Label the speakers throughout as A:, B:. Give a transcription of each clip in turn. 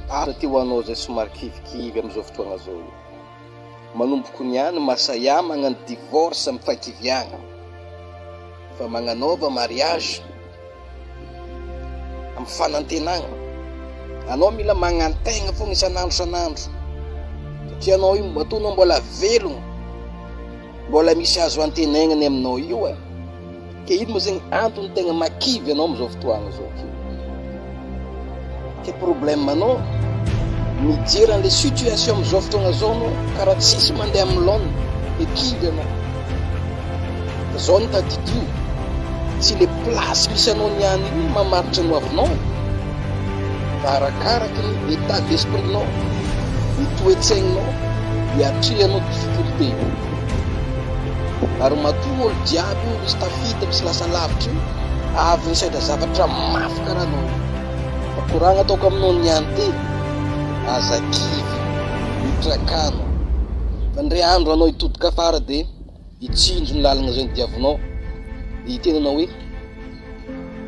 A: Ary aty ho anao izay somary kivikivy amin'izao fotoana izao io. Manomboko ny ahy ny maha sahiahy magnano divorce amin'ny fahakiviagna. Fa magnanaova mariage amin'ny fanantenagna. Anao mila magnantegna foagna isan'andro isan'andro. Satria anao io matoa anao mbola velogno, mbola misy azo antenaigna ny aminao io e. Ka ino moa zegny antony tegna mahakivy anao amizao fotoagna zao ty? Ty problème anao mijery anle situation amizao fotoagna zao anao karaha tsisy mandeha amin'ny laoniny de kivy anao. Fa zao no tadidio, tsy le place misy anao niany io no mamaritra ny hoavinao fa arakaraky ny état d'esprit-nao, ny toe-tsaignao, ny atrehanao difficulté. Ary matoa olo jiaby io misy tafita misy lasa lavitra io avy nisaitra zavatra mafy karaha anao io. Fa koragna ataoko aminao ny any ty, aza kivy, mitrakano. Fa ndre andro anao hitodika afara dia hitsinjo ny lalagna zay ny diavinao dia hiteny anao hoe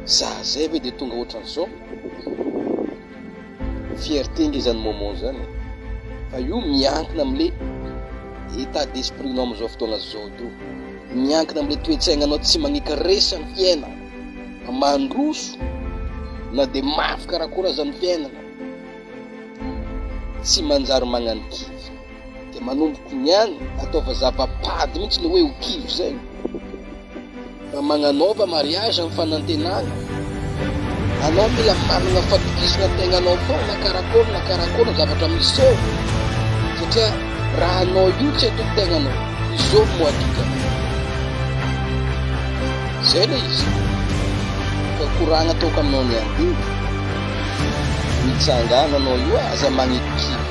A: za zay ve dia tonga ohatran'izao? Fierté nge zany moment zany e! Fa io miankina amle état d'esprit nao amzao fotoagna zao io, miankina amle toetsaignanao tsy magneka resy am fiainana, fa mandroso na de mafy karakôry aza ny fiainana, tsy manjary magnano kivy. Dia manomboka miany, ataova zava-pady mihitsy le hoe ho kivy zay. Raha magnanaova mariage amin'ny fanantenana, anao mila manana fatokisana tegnanao foana karakôry na karakôry ny zavatra miseo. Satria raha anao io tsy atoko tegnanao, izao no atoka. Zay le izy. Ka koragna ataoko aminao ny andivo. Mitsangana anao io aza magniky kivy.